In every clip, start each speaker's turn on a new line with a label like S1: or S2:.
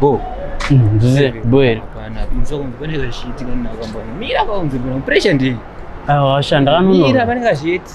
S1: Bo. Mzee Bwere. Bana, mzoko mzokweneka zvichiitika ninakwambani. Mira kwaunzi bwana, pressure ndii. Awa, shanda kanunura. Mira panenge zviiti.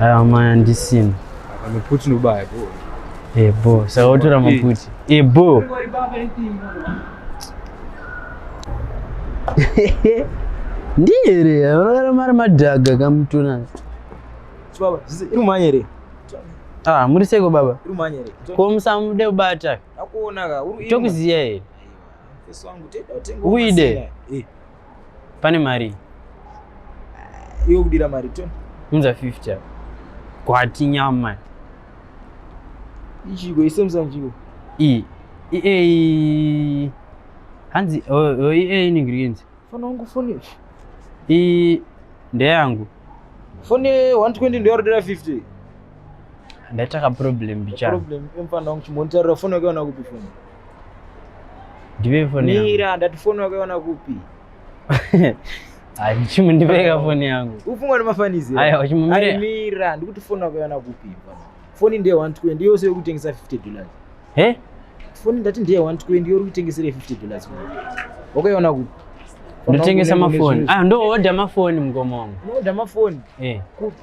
S1: aya maya ndisina maputi nobaya bo ebo eh, saka wotora maputi ebo eh, ndiyere vanogara mari madhaga kamutuna imumanyere ah muri seko baba imumanyere ko musamude kubata tokuziya here uide Pane mari. Uh, iwe kudira mari to? Unza 50. Kwati nyama. Ichiko isemza njiko. I. I e. Hanzi o oh, oh, i e inenge riyenzi. Fona wangu foni. I ndeyangu. Foni 120 ndeyo 50 ndaitaka problem bichana problem emfana wangu chimontarira foni yake wana kupi foni ndipe foni yangu mira ndati foni wakaiona kupi Hayi chimu ndibeka foni yangu. Ufunga nemafanizi. Hayi wachimu mira. Hayi mira ndikuti foni wakaiona kupi? Foni ndiye 120 yose yokutengesa 50 dollars. He? Foni ndati ndiye 120 yori kutengesera 50 dollars. Wakaiona kupi? Ndotengesa mafoni. Ah, ndo order mafoni mgomo wangu. Order mafoni. Eh. Kupi?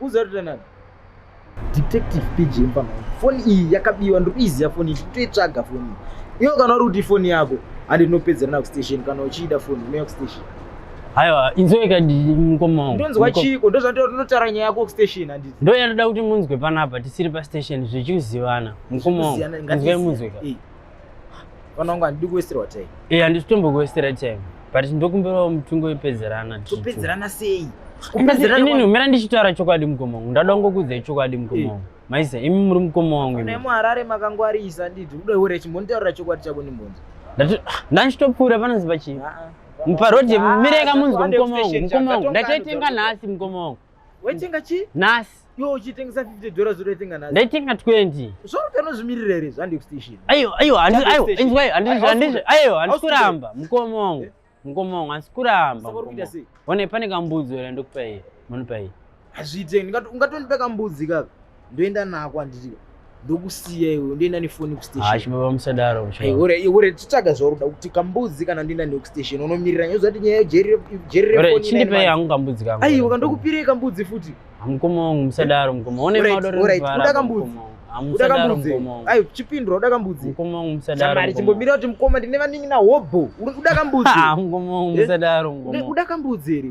S1: uzotaura nani detective pg mfana foni iyi yakabiwa ndiri kuiziva foni iyi toitsvaga foni iyi iyo kana uri kuti ifoni yako handi tinopedzerana kustation kana uchiida foni unouya kustation haiwa inzoika mukoma wangu ndonzwa chiko ndozvandinotaura nyaya yako kustation handiti ndo yanoda kuti munzwe panapa tisiri pastation zvichikuzivana mukoma wangu inzwai munzweka Vana wangu handidi kuwestirwa time. Eh, handisi kutombo kuwestera time. But ndokumbirawo mutungo wepedzerana. Topedzerana sei? Kupedzerana inini umira ndichitaura chokwadi mukoma wangu. Ndada kungokuudza chokwadi mukoma eh. wangu. Maisa imi muri mukoma wangu. Nei muharare makangwarisa nditi kuda hure chimbonitaurira chokwadi chako ndimbonzi. Ndati ah, ndachitopfuura panoziva chii? Ah, ah. Muparodi mireka munzwa mukoma wangu. Mukoma wangu. Ndachaitenga nhasi mukoma wangu. Waitenga chi? Nhasi. Yo uchitengesa 50 dollars unoitenga nhasi. Ndaitenga 20. Zvoro tanozvimirira here zvandi station. Ayo ayo handi ayo inzwa ayo handi handi ayo handi kuramba mukoma wangu. Mukoma wangu handi kuramba. One pane kambudzo here ndokupa iye. Munopa iye. Hazviite ungatondipa kambudzi kaka. ndoenda nako handiti ndokusiya iwe ndoenda nefoni kustationbaba musadaro ore titsvaga zvaurikuda kuti kambudzi kana ndoenda newe kustation unomirira nyaya zati nyaya yejererechindipei hangu kambudzi kangu aiwa ndokupirei kambudzi futi mukoma wangu musadaro mukoma one madoda kambudzi uda kambudzi ai chipindura uda kambudzi mukoma wangu musadaro chimbomira kuti mukoma ndine vaningi na hobho uda kambudzi mukoma wangu musadaro uda kambudzi here